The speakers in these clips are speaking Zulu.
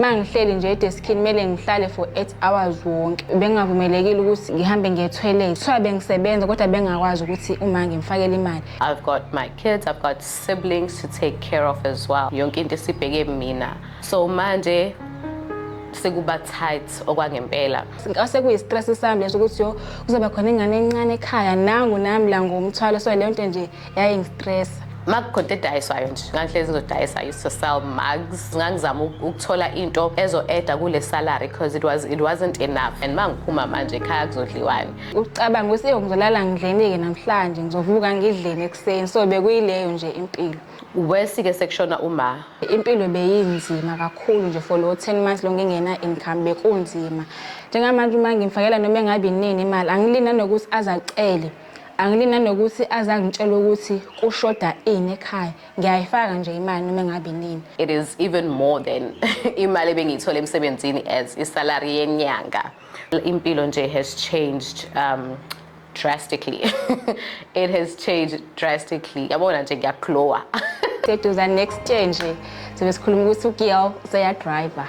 Uma ngihleli nje edeskini kumele ngihlale for eight hours wonke. Bengingavumelekile ukuthi ngihambe ngiye toilet. Kuthiwa bengisebenza kodwa bengakwazi ukuthi uma ngimfakele imali. I've got my kids, I've got siblings to take care of as well. Yonke into isibheke mina. So manje sekuba tight okwangempela ngase kuyistress sami leso ukuthi yo kuzoba khona ingane encane ekhaya nangu nami la ngomthwalo so leyo nto nje yayingistresa makukhonto edayiswayo nje ngangihlezi ngizodayisa used to sell mugs ngangizama ukuthola into ezo-eda kule salary because it, was, it wasn't enough and ma ngiphuma manje ekhaya kuzodliwani ucabanga ukuthi eyo ngizolala ngidleni-ke namhlanje ngizovuka ngidleni ekuseni so bekuyileyo nje impilo wesike sekushona uma impilo beyinzima kakhulu nje for lo 10 months lo ngingena income bekunzima njengamanje uma ngimfakela noma engabi nini imali angilina nokuthi azacele Angili nanokuthi aze angitshele ukuthi kushoda ini ekhaya. Ngiyayifaka nje imali noma engabe inini. It is even more than imali ebengiyithola emsebenzini as isalary yenyanga. Impilo nje has changed um drastically. It has changed drastically. Yabona nje ngiyaglowa. Seduza next year nje sibe sikhuluma ukuthi uGiel useyadriver.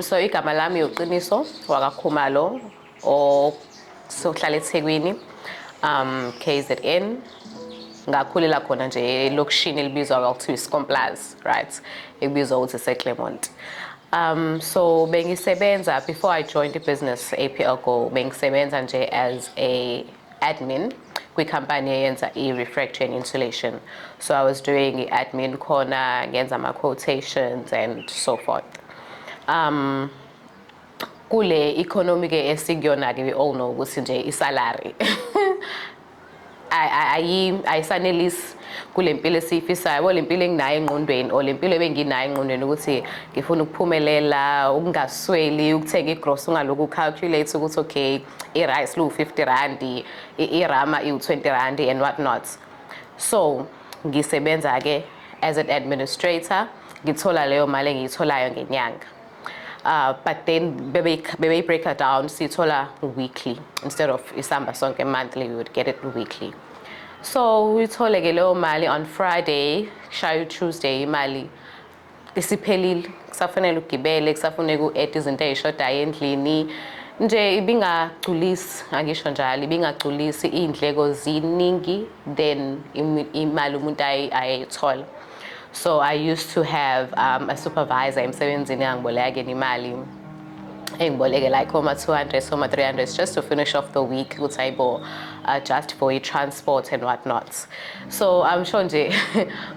So igama lami uqiniso wakakhumalo osohlala ethekwini um kzn ngakhulela khona nje elokishini elibizwa kwakuthiwa iscomplaz right ekubizwa ukuthi seclermont Um, so bengisebenza before I joined the business APL Go bengisebenza nje as a admin kwikhampani eyenza i-refractory and insulation so i was doing i-admin khona ngenza ama-quotations and so forth um kule economy ke esikuyona ke we all know ukuthi nje isalary ayisanelisi kule mpilo esiyifisayo bo le mpilo enginayo engqondweni or le mpilo ebenginayo engqondweni ukuthi ngifuna ukuphumelela ukungasweli ukuthenga igross ungalokhu calculate ukuthi okay i-rice liwu-50 randi i-rama iwu-20 randi and what not so ngisebenza-ke as an administrator ngithola leyo mali engiyitholayo ngenyanga uh, but then bebeyi-break her down siyithola weekly instead of isamba sonke monthly we would get it weekly so uyithole-ke leyo mali on friday shayo tuesday imali isiphelile kusafanele ugibele kusafuneka u-ede izinto ey'shodayo endlini nje ibingagculisi angisho njalo ibingagculisi iy'ndleko ziningi than imali umuntu ayeyithola so i used to have um, a supervisor emsebenzini angiboleka kena imali engiboleke like oma 200 oma 300 just to finish off the week ukuthi ayibo uh, just for i-transport and what not so i'm sure nje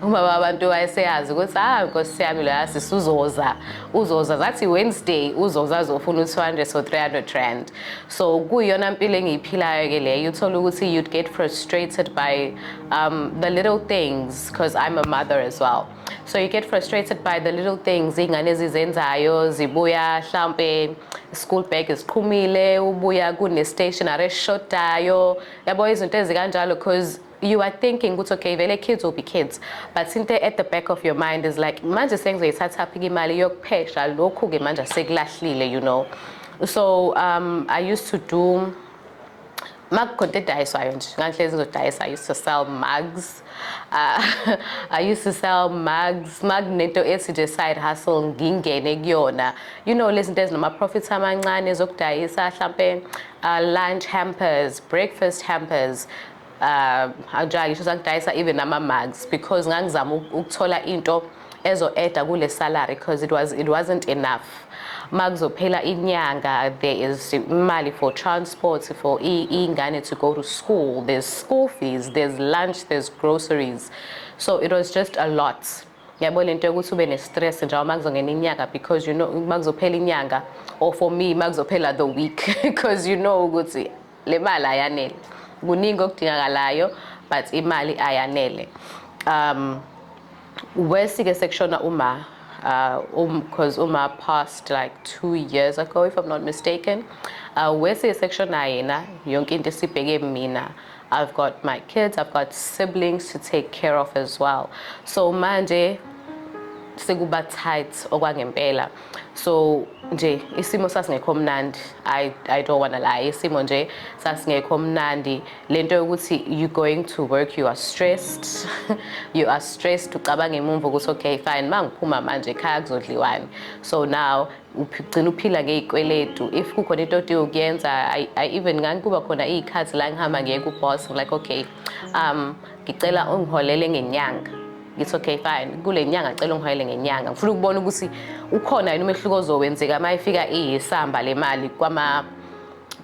umama abantu wayeseyazi ukuthi ah nkosi yami loya sisuzoza uzoza zathi wednesday uzoza azofuna u-200 so 300 rand so kuyona mpilo engiyiphilayo ke leyo uthole ukuthi you'd get frustrated by um, the little things because i'm a mother as well so you get frustrated by the little things iy'ngane ezizenzayo zibuya mhlawumpe school bag ziqhumile ubuya kune-stationary eshodayo yabo izinto ezikanjalo because you are thinking ukuthi okay vele kids will be kids but into at the back of your mind is like manje sengizoyithathaphi imali yokuphesha lokhu-ke manje sekulahlile you know so um, i used to do Makukhonto edayiswayo nje ngangihlezi ngizodayisa I used to sell mugs uh, I used to sell mugs makunento ethi nje side hustle ngingene kuyona you know lezi zinto ezinama profits amancane zokudayisa hlampe uh, lunch hampers breakfast hampers uh, anjalo ngisho sangidayisa even ama mugs because ngangizama ukuthola into ezo eda kule salary because it was it wasn't enough makuzophela inyanga there is imali for transport for ingane to go to school there's school fees there's lunch there's groceries so it was just a lot yabo lento yokuthi ube ne-stress njengoba uma kuzongena inyanga because you know uma kuzophela inyanga or for me uma kuzophela the week because you know ukuthi Le mali ayanele. Kuningi okudingakalayo but imali ayanele. Um worse ke sekushona uma uh, um, cause Uma passed like two years ago, if I'm not mistaken. Uh, Wesley section ayena, yonke into sibheke mina. I've got my kids, I've got siblings to take care of as well. So manje sekuba tight okwangempela. so nje isimo sasingekho mnandi i i don't want to lie isimo nje sasingekho mnandi lento yokuthi you going to work you are stressed you are stressed ucabanga emumva ukuthi okay fine mangiphuma manje ekhaya kuzodliwani so now ugcina uphila ngezikweletu if kukhona into odi ukuyenza i, I even ngangikuba khona izikhathi la ngihamba ngiye ku boss like okay um ngicela ungiholele ngenyanga ngithi okay fine kule nyanga cela ungihayele ngenyanga ngifuna ukubona ukuthi ukhona yini umehluko ozowenzeka uma ifika iyisamba le mali kwama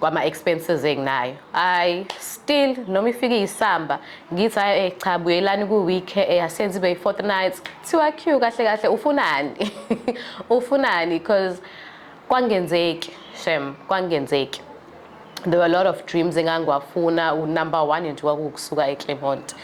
kwama-expenses enginayo hayi still noma ifike iyisamba ngithi hayi eh, cha buyelani ku-week eh, asenze ibe yi-fortnight thiwa q kahle kahle ufunani ufunani because kwangenzeki shem kwangenzeki there were a lot of dreams engangiwafuna unumber one nje kwakuwukusuka eclermont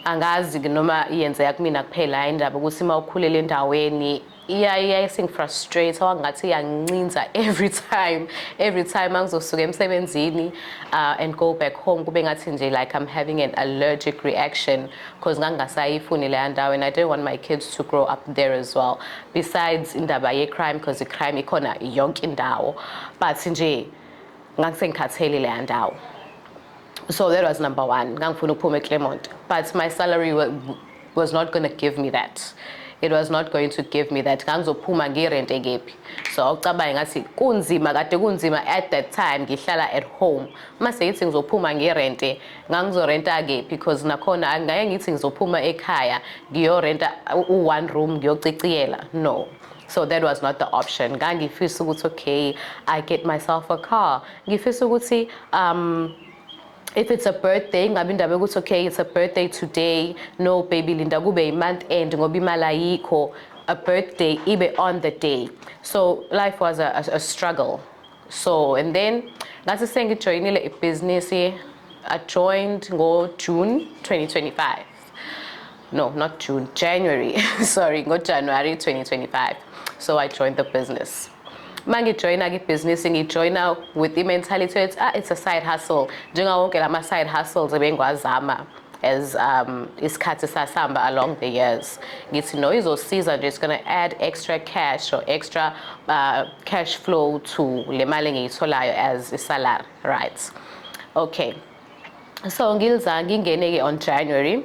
angazi noma iyenzeka kumina kuphela hayi indaba ukuthi uma ukhulele endaweni yayisingifrustrate wangathi iyangincinza every time every time angizosuka emsebenzini uh, and go back home kube ngathi nje like i'm having an allergic reaction because ngangingasayifuni leya ndawo and i don't want my kids to grow up there as well besides indaba ye-crime because i-crime ikhona yonke indawo but nje ngangisengikhathele leya ndawo so that was number one ngangifuna ukuphuma eclermont but my salary was not going to give me that it was not going to give me that ngangizophuma ngirente kephi so awucabange ngathi kunzima kade kunzima at that time ngihlala at home uma sengithi ngizophuma ngirente ngangizorenta kephi because nakhona angingeke ngithi ngizophuma ekhaya ngiyorenta u-one room ngiyociciyela no so that was not the option ngangifisa ukuthi okay i get myself a car ngifisa ukuthi um if it's a birthday ingabe indaba yokuthi okay it's a birthday today no baby linda kube i-month end ngoba imali ayikho a birthday ibe on the day so life was a, a, a struggle so and then ngathi sengijoyinile ibhizinisi i joined ngo-june 2025 no, not June, January, sorry, go January 2025. So I joined the business. Mangi join agi business ngi join out with the mentality that ah, it's a side hustle. Njenga wonke lama side hustles ebengwazama as um, isikhathi sasihamba along the years ngithi no izosiza nje it's going to add extra cash or extra uh, cash flow to le mali engiyitholayo as isalary right okay so ngilza ngingene-ke on january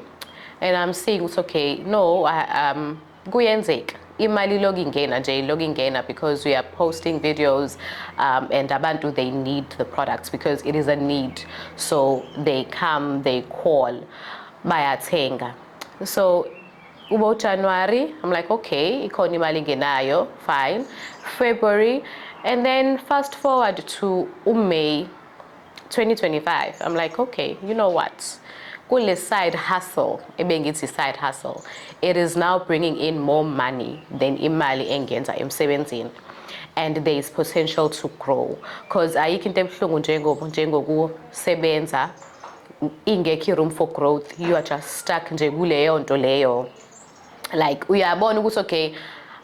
and i'm seeing ukuthi okay no um kuyenzeka imali iloku ingena nje iloku ingena because we are posting videos um, and abantu they need the products because it is a need so they come they call bayathenga so ubo january i'm like okay ikhona imali ingenayo fine february and then fast forward to umay 2025 i'm like okay you know what kule side hustle ebengithi side hustle it is now bringing in more money than imali engenza emsebenzini and there is potential to grow because ayikho into ebuhlungu njengoba njengokusebenza ingekho room for growth you are just stuck nje kuleyo nto leyo like uyabona ukuthi okay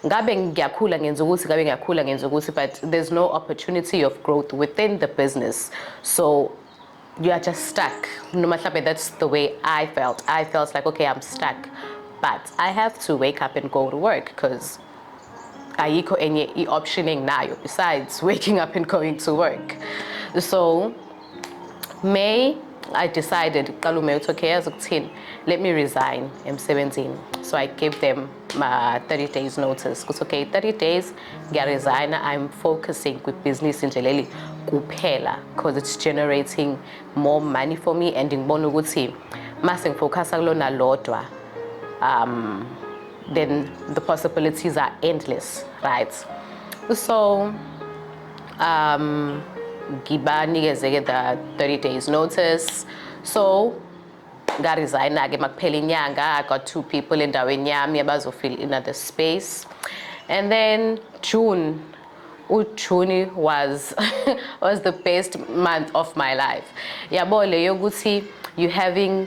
ngabe ngiyakhula ngenza ukuthi ngabe ngiyakhula ngenza ukuthi but there's no opportunity of growth within the business so you are just stuck no matter that's the way i felt i felt like okay i'm stuck but i have to wake up and go to work because ayikho enye i-option enginayo besides waking up and going to work so May I decided kuqala uMay uthi okay yazi ukuthini let me resign emsebenzini so I gave them my 30 days notice kuthi okay 30 days ngiyaresigna I'm focusing with business nje leli kuphela because it's generating more money for me and ngibona ukuthi mase ngifocasa kulona lodwa um then the possibilities are endless right so um ngibanikezeke the 30 days notice so ngaresigna-ke makuphela inyanga i got two people endaweni yami abazofill in the space and then june ujuni was was the best month of my life yabo leyo ukuthi you having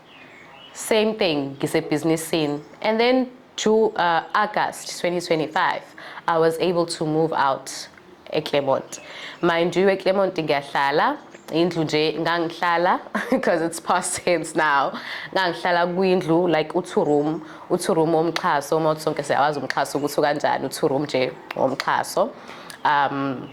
same thing ngisebhizinisini and then to uh, August 2025 I was able to move out eClermont mind you eClermont ngiyahlala indlu nje ngangihlala because it's past tense now ngangihlala kwindlu like u-two room u-two room womxhaso uma uthi sonke siyawazi umxhaso ukuthi ukanjani u-two room nje womxhaso um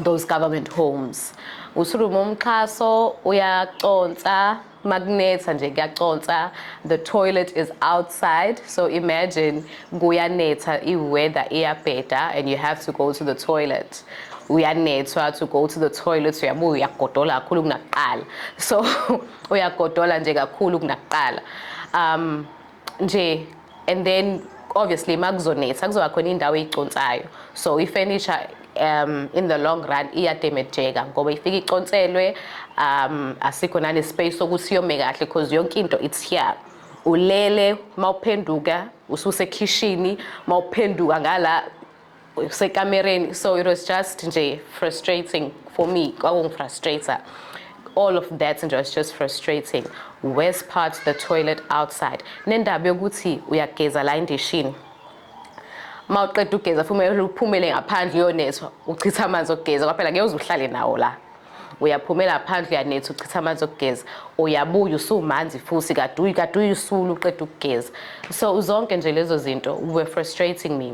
those government homes u-two room womxhaso uyaconsa makunetha nje kuyaconsa the toilet is outside so imagine kuyanetha i-weather iyabheda and you have to go to the toilet uyanethwa to go to the toilet uyabuya uyagodola kakhulu kunakuqala so uyagodola nje kakhulu kunakuqala um nje and then obviously makuzonetha kuzoba khona indawo eyiconsayo so ifurniture um in the long run iyademejeka ngoba ifika iconselwe um asikho nane space sokuthi yome kahle because yonke into it's here ulele mawuphenduka ususekhishini mawuphenduka ngala sekamereni so it was just nje frustrating for me kwakungifrustrator all of that nje was just frustrating worse part the toilet outside nendaba yokuthi uyageza la endishini ma uqeda ugeza fumele uphumele ngaphandle uyonethwa uchitha amanzi okugeza kwaphela ngeke uze uhlale nawo la uyaphumela phandle uyanetha uchitha amanzi okugeza uyabuya usumanzi futhi kaduyi kaduyi usulu uqeda ukugeza so zonke nje lezo zinto were frustrating me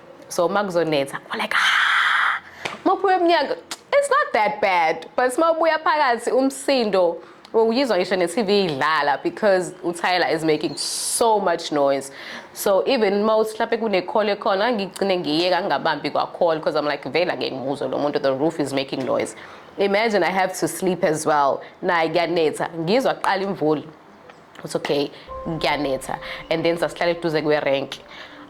so uma kuzonetha u like ah uma uphuma emnyango it's not that bad but uma ubuya phakathi umsindo uyizwa ngisho ne-tv idlala because utyler is making so much noise so even uma uthi mhlawumpe kune-call ekhona ngigcine ngiyeka ngingabambi kwa-call because i'm like vele ake ngimuzwe lo muntu the roof is making noise imagine i have to sleep as well naye kuyanetha ngizwa kuqala imvula uthi okay ngiyanetha and then sasihlala eduze kwerank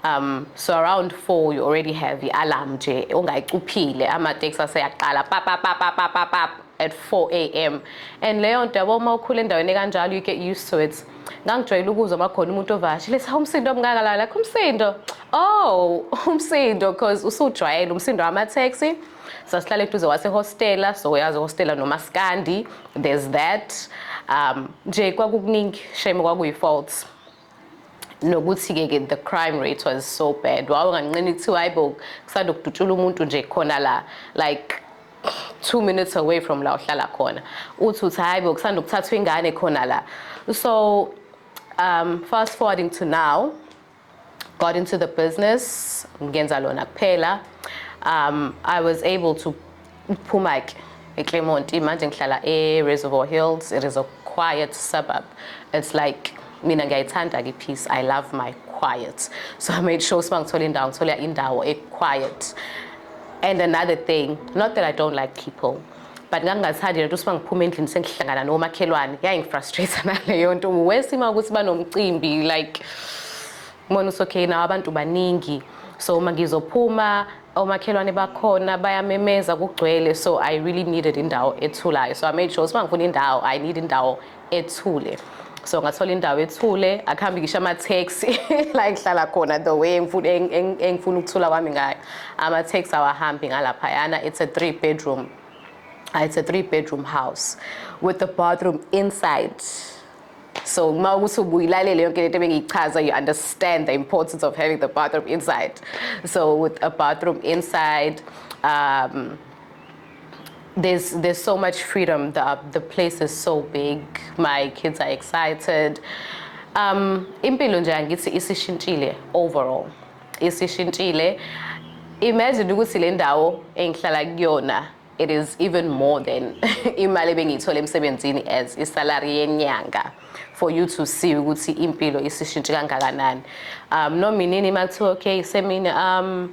um so around 4 you already have i-alarm nje ongayicuphile amateksi aseyaqala papapapapapap at 4 a.m and leyo nto yabo uma ukhula endaweni ekanjalo you get used to it ngangijwayele ukuzwa uma khona umuntu ovashile sa umsindo omngaka la lakho umsindo oh umsindo because usujwayele umsindo wamateksi sasihlala eduze wasehostela so uyazi hostela nomaskandi there's that um nje kwakukuningi shame kwakuyi-faults nokuthi-ke ke the crime rate was so bad wawenganqini kuthiwa hayi bo kusanda ukudutshula umuntu nje khona la like two minutes away from la uhlala khona uthi uthi hayi bo kusanda ukuthathwa ingane khona la so um fast forwarding to now got into the business ngenza lona kuphela um i was able to phuma ke eclermont manje ngihlala e-reservoir hills it is a quiet suburb it's like mina ngiyayithanda ke peace i love my quiet so i made sure siba ngithola indawo ngithola indawo e-quiet and another thing not that i don't like people but ngangingathandi lento ukuthi mangiphuma endlini sengihlangana nomakhelwane yaye ngifrustrate naleyo nto worse uma ukuthi banomcimbi like mona usokhey nawo abantu baningi so uma ngizophuma omakhelwane bakhona bayamemeza kugcwele so i really needed indawo ethulayo so i made sure ukuthi uma ngifuna indawo i need indawo ethule so ngathola indawo ethule akuhambi ngisho ama-taxi la engihlala khona the way engifuna ukuthula kwami ngayo ama-taxi awahambi ngalaphayana it's a three bedroom ah, it's a three bedroom house with the bathroom inside so uma ukuthi ubuyilalele yonke lento ebengiyichaza you understand the importance of having the bathroom inside so with a bathroom inside um, there's there's so much freedom. The the place is so big. My kids are excited. Um, impilo nje angithi isishintshile overall. Isishintshile. Imagine ukuthi le ndawo engihlala kuyona it is even more than imali ebengiyithola emsebenzini as isalary yenyanga for you to see ukuthi impilo isishintshe kangakanani um nominini makuthiwa okay semini um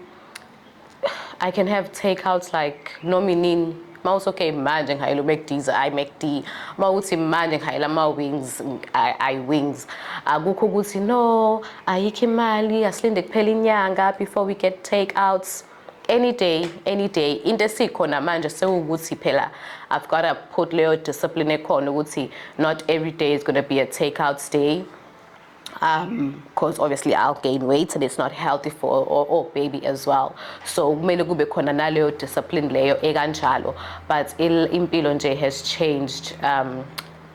I can have takeouts like noma inini uma uthi okay manje ngihayela uMcD's ayi McD uma uthi manje ngihayela ama-wings ayi wings akukho ukuthi no ayikho imali asilinde kuphela inyanga before we get take outs any day any day into esikhona manje sewukuthi phela i've got to put leyo discipline ekhona ukuthi not every day is going to be a take out day um because obviously I'll gain weight and it's not healthy for or, or baby as well so kumele kube khona naleyo discipline leyo ekanjalo but impilo nje has changed um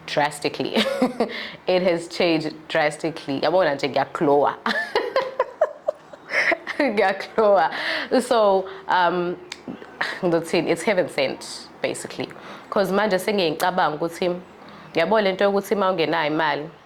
drastically it has changed drastically yabona nje ngiyaglowa ngiyaglowa so um ngizothini it's heaven sent basically because manje sengiyicabanga ukuthi yabo lento yokuthi uma ungenayo imali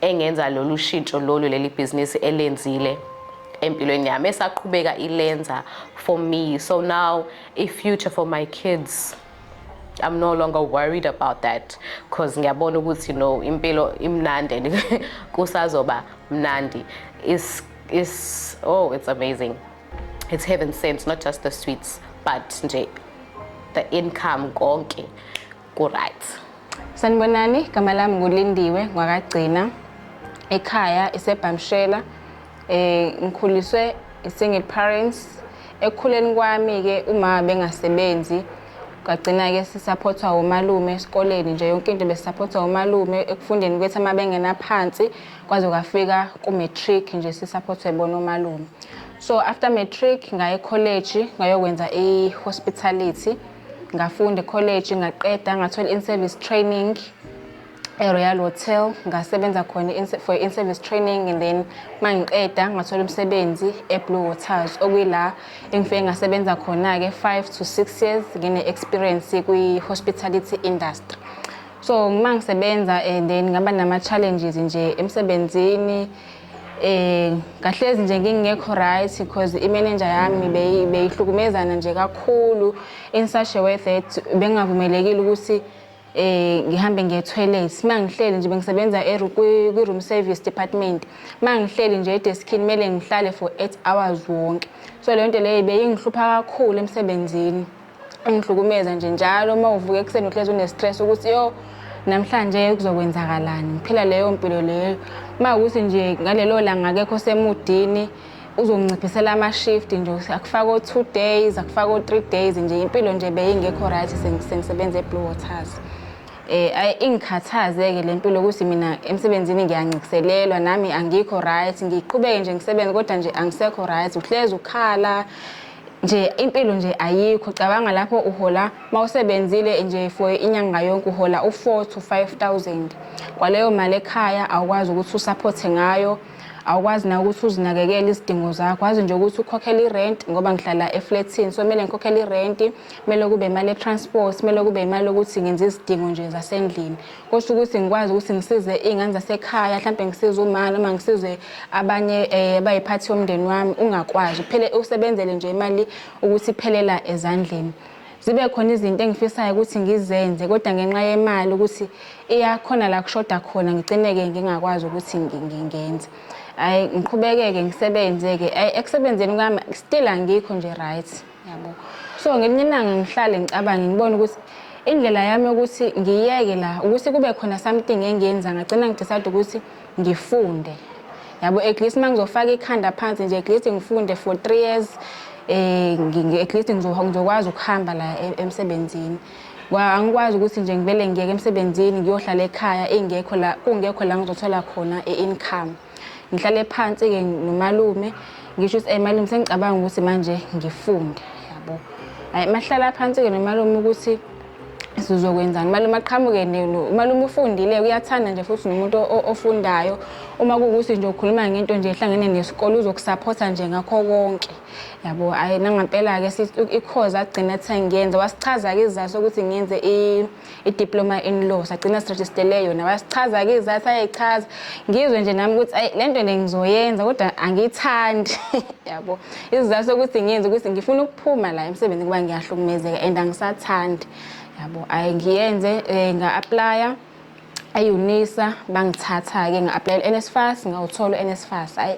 engenza lolu shintsho lolu leli bhizinisi elenzile empilweni yami esaqhubeka ilenza for me so now a future for my kids I'm no longer worried about that because ngiyabona ukuthi no impilo imnandi and kusazoba mnandi is is oh it's amazing it's heaven sent not just the sweets but nje the income konke Kuright. Sanibonani, igama lami nguLindiwe ngwakagcina. Ekhaya isebhamshela. Eh ngikhuliswe single parents. Ekukhuleni kwami ke umama bengasebenzi. Kwagcina ke sisupportwa umalume esikoleni nje yonke into besupportwa umalume ekufundeni kwethu ama bengena phansi kwaze kwafika ku matric nje sisupportwe bona umalume. So after matric ngaye college ngayokwenza i hospitality. ngafunda ekholeji ngaqeda ngathola in-service training e-royal hotel ngasebenza khona for in-service training and then uma ngiqeda ngathola umsebenzi e-blue waters okuyila engifike ngasebenza khona-ke five to six years ngine-experience kwi-hospitality industry so uma ngisebenza and then ngaba nama-challenges nje emsebenzini Eh kahlezi nje ngingekho right because imenenja yami beyi- beyihlukumezana nje kakhulu in such a way that bengingavumelekile ukuthi eh ngihambe ngiye toilet uma ngihleli nje bengisebenza eru- kwi- kwi-room service department uma ngihleli nje edeskini kumele ngihlale for eight hours wonke so leyo nto leyo beyingihlupha kakhulu emsebenzini ungihlukumeza nje njalo uma uvuka ekuseni uhlezi une-stress ukuthi yo namhlanje kuzokwenzakalani ngiphila leyo mpilo leyo uma ukuthi nje ngalelo langa akekho semudini uzonciphisela ama-shift nje akufaka o-two days akufaka o-three days nje impilo nje beyingekho right sengisebenza e-blue waters eh ayi ingikhathaze-ke le mpilo ukuthi mina emsebenzini ngiyancikiselelwa nami angikho right ngiqhubeke nje ngisebenze kodwa nje angisekho right uhlezi ukhala nje impilo nje ayikho cabanga lapho uhola mawusebenzile nje for inyanga yonke uhola u4 to 5000 kwaleyo mali ekhaya awukwazi ukuthi usupport ngayo awukwazi na ukuthi uzinakekele izidingo zakho wazi nje ukuthi ukhokhela irent ngoba ngihlala eflatini so kumele ngikhokhele irenti kumele kube imali etransport kumele kube imali yokuthi ngenze izidingo nje zasendlini kusho ukuthi ngikwazi ukuthi ngisize iy'ngane zasekhaya mhlawumbe ngisize uma noma ngisize abanye um eh, bayiphathi yomndeni wami ungakwazi kuphele usebenzele nje imali ukuthi iphelela ezandleni zibe khona izinto engifisayo ukuthi ngizenze kodwa ngenxa yemali ukuthi iyakhona la kushoda khona ngigcineke ngingakwazi ukuthi ngingenze hayi ngiqhubekeke ngisebenze-ke hayi ekusebenzeni kwami still angikho nje right yabo so ngelinye ilanga ngihlale ngicabange ngibone ukuthi indlela yami yokuthi ngiyeke la ukuthi kube khona something engiyenza ngagcina ngidecide ukuthi ngifunde yabo at least uma ngizofaka ikhanda phansi nje at least ngifunde for three years um at least ngizokwazi ukuhamba la e-, emsebenzini angikwazi ukuthi nje ngivele ngiyeke emsebenzini ngiyohlala ekhaya ingekho la kungekho la ngizothola khona i-income ngihlale phansi-ke nomalume ngisho ukuthi malume sengicabanga ukuthi manje ngifunde yabo hayi mahlala phansi-ke nomalume ukuthi sizokwenzani umalume aqhamuke umalume ufundile uyathanda nje futhi nomuntu ofundayo uma kuwukuthi nje ukhuluma ngento nje ehlangene nesikole uzokusaphotha nje ngakho konke yabo hhayi nangampela-ke ikhozi agcina athe ngiyenze wasichaza-ke isizathu sokuthi ngiyenze idiploma in law sagcina sirejistele yona wasichaza-ke izathu ayechaza ngizwe nje nami ukuthi ayi le nto le ngizoyenza kodwa angiyithandi yabo isizathu sokuthi ngenze ukuthi ngifuna ukuphuma la emsebenzini kuba ngiyahlukumezeka and angisathandi yabo ayi ngiyenze um eh, nga-aplaya ayunisa bangithatha-ke nga-aplayela u-nsfas ngawuthola u-nsfas ayi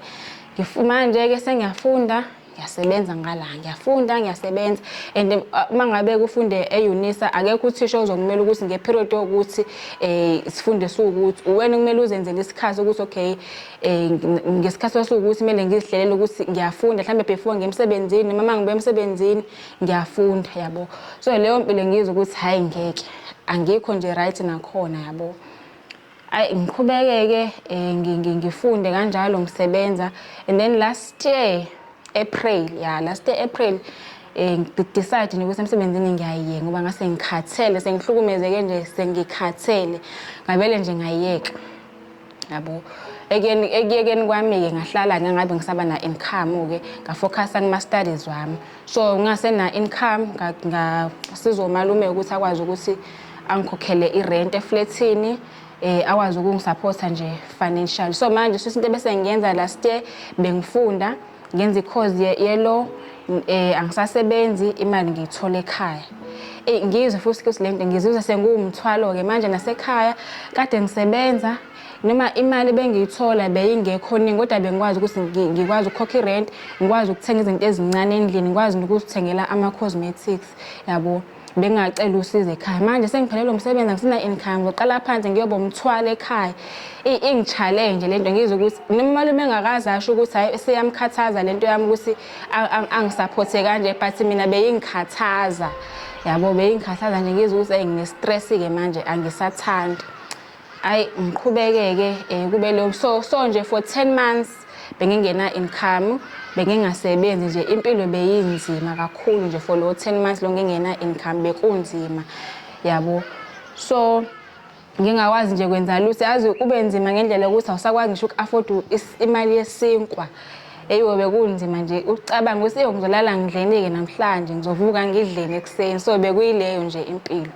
manje-ke sengiyafunda ngiyasebenza ngala ngiyafunda ngiyasebenza and eh, uma ngabe kufunde eunisa akekho uthisha ozokumele ukuthi ngeperiod yokuthi um sifunde siwukuthi uwena kumele uzenzele isikhathi ukuthi okay um ngesikhathi sasiwukuthi kumele ngizihlelele ukuthi ngiyafunda mhlawumbe before ngemsebenzini noma ngibe emsebenzini ngiyafunda yabo so leyo mpilo ngizwa ukuthi hhayi ngeke angikho nje right nakhona yabo Ayi ngiqhubekeke eh, ngi- ngi- ngifunde kanjalo ngisebenza and then last year April ya last year April eh ngi- decide nje ukuthi emsebenzini ngiyayiyeka ngoba ngase ngikhathele sengihlukumezeke nje sengikhathele ngabele nje ngayiyeka yabo ekuyeni ekuyekeni kwami-ke ngahlala ngangabe ngisaba na-income-ke ngafocusa kuma-studies wami so ngingasena-income ngasiza umalume ukuthi akwazi ukuthi angikhokhele irent eflethini um eh, akwazi ukungisaphotha nje financial so manje shuthi into bese ngiyenza last year bengifunda ngenza i-cause ye-law um eh, angisasebenzi imali ngiyithole ekhaya eyi ngizwe futhi ukuthi le nto ngizizwe sengiwumthwalo-ke manje nasekhaya kade ngisebenza noma imali bengiyithola beyingekho ningi kodwa bengikwazi ukuthi ngikwazi ukukhokha i-rent ngikwazi ukuthenga izinto ezincane endlini ngikwazi nokuzithengela ama-cosmetics yabo bengacela usizo ekhaya manje sengiphelelwe umsebenzi angisina income ngiqala phansi ngiyoba umthwalo ekhaya ingi-challenge le nto ngizwe ukuthi nomalume engakazi asho ukuthi hhayi seyamkhathaza le nto yami ukuthi angisaphothe kanje but mina beyingikhathaza yabo beyingikhathaza nje ngizwe ukuthi eyi ngine-stress-ke manje angisathandi Ayi ngiqhubekeke eh kube lo so so nje for 10 months bengingena income bengingasebenzi nje impilo beyinzima kakhulu nje for lo 10 months lo ngingena income bekunzima yabo so ngingakwazi nje kwenza lutho yazi kube nzima ngendlela ukuthi awusakwazi ngisho uku-afford imali yesinkwa eyiwe bekunzima nje ucabanga ukuthi eyo ngizolala ngidleni-ke namhlanje ngizovuka ngidleni ekuseni so bekuyileyo nje impilo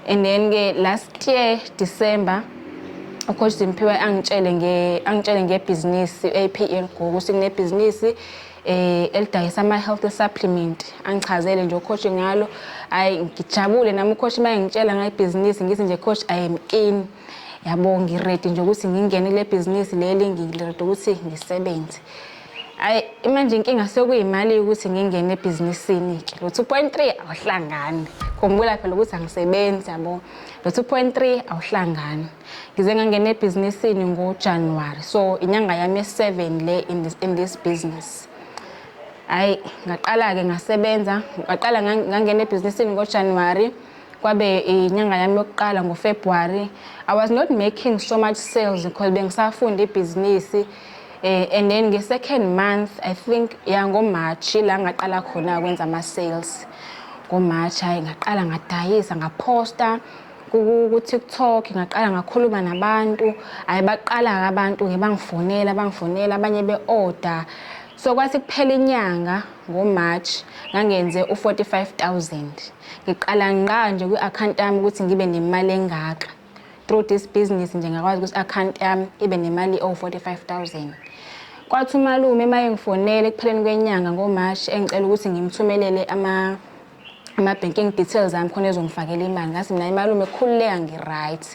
and then ke last year December ucoach Simphiwe angitshele nge angitshele ngebhizinisi AP Elgogo ukuthi kunebhizinisi eh elidayisa ama health supplement angichazele nje ucoach ngalo ayi ngijabule nami ucoach maye ngitshela ngayibhizinisi ngithi nje coach I am in yabo ngiready nje ukuthi ngingene kule bhizinisi leli ngiready ukuthi ngisebenze Hayi manje inkinga sekuyimali ukuthi ngingene ebhizinisini ke. Lo 2.3 awuhlangani. Khumbula phela ukuthi angisebenzi yabo. Lo 2.3 awuhlangani. Ngize ngangena ebhizinisini ngoJanuary. So inyanga yami ye7 le in this, in this business. Hayi ngaqala ke ngasebenza, ngaqala ngangena ebhizinisini ngoJanuary kwabe inyanga yami yokuqala ngoFebruary. I was not making so much sales because bengisafunda ibhizinisi. Eh, and then nge-second month i think ya ngomarch la ngaqala khona kwenza ama-sales ngomarch hhayi ngaqala ngadayisa ngaphosta ku-tiktok ngaqala ngakhuluma nabantu hhayi baqala-ke abantu-ke bangifonela bangifonela abanye be-order so kwathi kuphela inyanga ngomarch ngangenze u-45 000 ngiqala ngqa nje kwi-akhawunti yami ukuthi ngibe nemali engaka through this business nje ngakwazi ukuthi account yami ibe nemali o 45000 kwathi umalume uma engifonele ekupheleni kwenyanga ngomarch engicela ukuthi ngimthumelele ama ama-banking details ami khona ezongifakela imali ngathi mina imalume khululeka ngi-right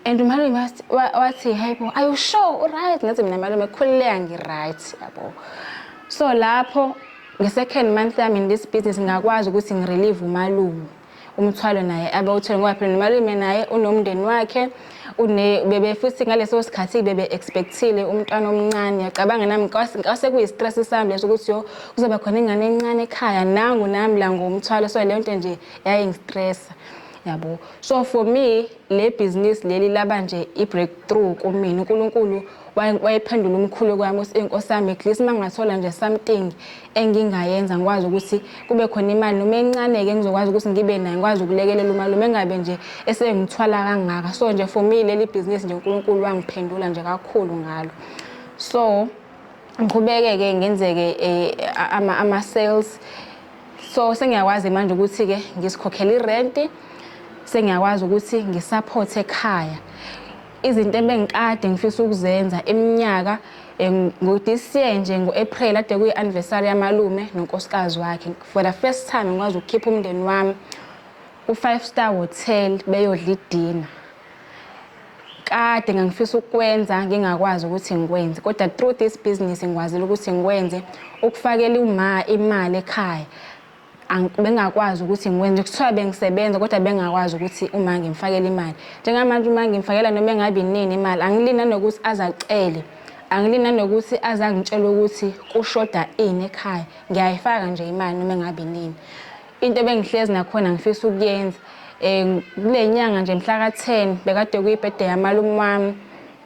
and umalume wathi hayi bo are you sure u-right ngathi mina malume khululeka ngi-right yabo so lapho nge-second month yami in this business ngakwazi ukuthi ngirelieve umalume umthwalo naye abawuthole ngoba phela nomalume naye unomndeni wakhe bebe futhi ngaleso sikhathi bebe expectile umntwana omncane yacabanga nami kwase kuyi-stress sami leso ukuthi yo kuzoba khona ingane encane ekhaya nangu nami la ngomthwalo so leyo nto nje yayingistressa yabo so for me le bhizinisi leli laba nje i-breakthrough kumina unkulunkulu wayephendula umkhulu kwami ukuthi inkosi yami at least uma ngingathola nje something engingayenza ngikwazi ukuthi kube khona imali noma encane-ke ngizokwazi ukuthi ngibe nayo ngikwazi ukulekelela umalume engabe nje esengithwala kangaka so nje for me leli bhizinisi nje unkulunkulu wangiphendula nje kakhulu ngalo so ngiqhubeke-ke ngenzeke um ama-sales so sengiyakwazi manje ukuthi-ke ngisikhokhela irenti sengiyakwazi ukuthi ngisaphothe ekhaya izinto ebengikade ngifisa ukuzenza iminyaka eh, ngo-this year nje ngo-april ade kuyi-anniversary yamalume nonkosikazi wakhe for the first time ngikwazi ukukhipha umndeni wami ku-five star hotel beyodla idina kade ngangifisa ukwenza ngingakwazi ukuthi ngikwenze kodwa through this business ngikwazile ukuthi ngikwenze ukufakela uma imali ekhaya Ang- bengakwazi ukuthi ngikwenze kuthiwa bengisebenza kodwa bengakwazi ukuthi uma ngimfakela imali njengamanje uma ngimfakela noma engabi nini imali angilini nanokuthi azacele angilini nanokuthi azangitshela ukuthi kushoda ini ekhaya ngiyayifaka nje imali noma engabi nini into ebengihlezi nakhona ngifisa ukuyenza um kule nyanga nje mhla ka-10 bekade kuyibhede yamalume wami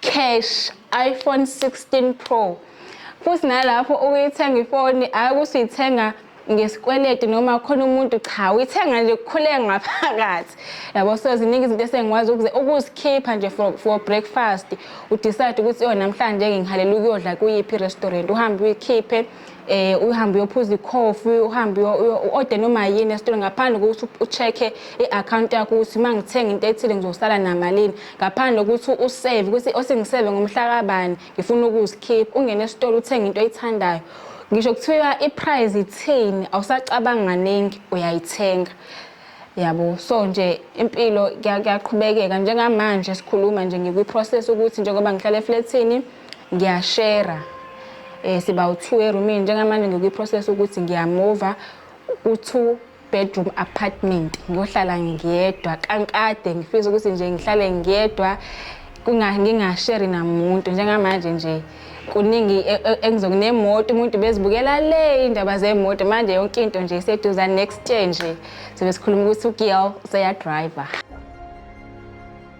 cash iPhone 16 Pro futhi nalapho ukuyithenga ifoni hayi ukuthi uyithenga ngesikweletu noma khona umuntu cha uyithenga nje kukhuleke ngaphakathi yabo so ziningi izinto esengikwazi ukuzikhipha nje for, for breakfast udecide ukuthi yona namhlanje-ke ngihalela ukuyodla kuyiphi i-restaurant uhambe uyikhiphe eh uhambe uyophuza ikhofi uhambe uode noma yini esitolo ngaphandle kokuthi ucheck-e i-account yakho ukuthi uma ngithenga into ethile ngizosala namalini ngaphandle kokuthi usave ukuthi osengiseve ngomhla kabani ngifuna ukuzikhipha ungene esitolo uthenge into oyithandayo ngisho kuthiwa i-price ithini awusacabanga kaningi uyayithenga yabo so nje impilo kuyaqhubekeka njengamanje sikhuluma nje ngikwi-process ukuthi njengoba ngihlala eflethini ngiyashera eh siba u2 eroomini njengamanje ngikwiprocess ukuthi ngiyamova u2 bedroom apartment ngohlala ngiyedwa kankade ngifisa ukuthi nje ngihlale ngiyedwa ngingasheri namuntu njengamanje nje kuningi e, e, engizokunemoto umuntu bezibukela le indaba zemoto manje yonke into nje iseduza next year nje sibe sikhuluma ukuthi ugirl seyadriver